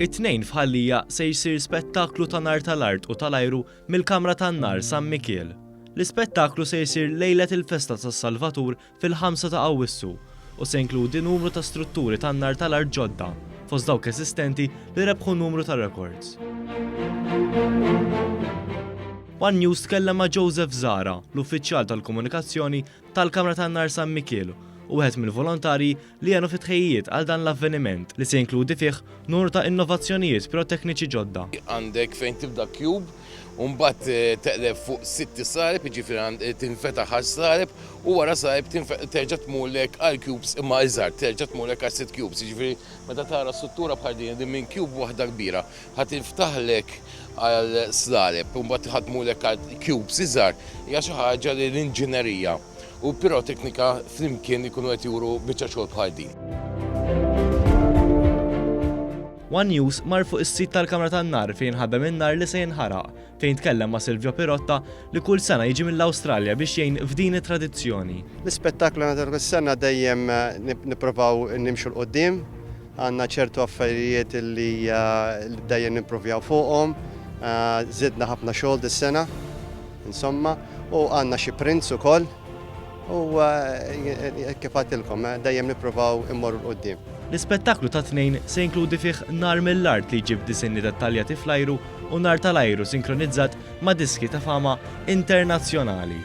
It-Tnejn f'Ħal Lija se jsir spettaklu ta' nar tal-art u tal-ajru mill-Kamra tan-Nar San Mikiel. L-ispettaklu se jsir lejlet il-festa tas-Salvatur fil-ħamsa ta' Awwissu u se jinkludi numru ta' strutturi tan-nar tal-art ġodda fost dawk eżistenti li rebħu numru ta' rekords. One News tkellem ma' Joseph Zahra, l-uffiċjal tal-komunikazzjoni tal-Kamra tan-Nar San Mikiel u wieħed mill-volontarji li għenu fit-tħejjijiet għal dan l-avveniment li se jinkludi fih nur ta' innovazzjonijiet pirotekniċi ġodda. Għandek fejn tibda cube u mbagħad teqleb fuq sitt sareb, jiġifieri tinfetaħ għas-sareb u wara sareb terġa' tmurlek għal cubes imma iżgħar, terġa' tmurlek għal sitt cubes. Jiġifieri meta tara struttura bħal din li minn cube waħda kbira ħa tinftaħlek għal sareb u mbagħad ħa tmurlek għal cubes iżgħar hija xi ħaġa li l-inġinerija, u piroteknika flimkien ikunu qed juru biċċa xogħol bħal din. One News mar fuq is-sit tal-kamra tan-nar fejn ħabem in-nar li se jinħaraq, fejn tkellem ma' Silvio Pirotta li kull sena jiġi mill-Awstralja biex jgħin f'din it-tradizzjoni. L-ispettaklu għandna kull sena dejjem nipprovaw nimxu 'l quddiem. Għandna ċertu affarijiet li dejjem nimpruvjaw fuqhom. Żidna ħafna xogħol dis-sena. Insomma, u għandna xi prints ukoll u kif għatilkom dejjem nippruvaw immorru l quddiem. L-ispettaklu tat-Tnejn se jinkludi fih nar mill-art li jġib disinni dettaljati fl-ajru u nar tal-ajru sinkronizzat ma' diski ta' fama internazzjonali.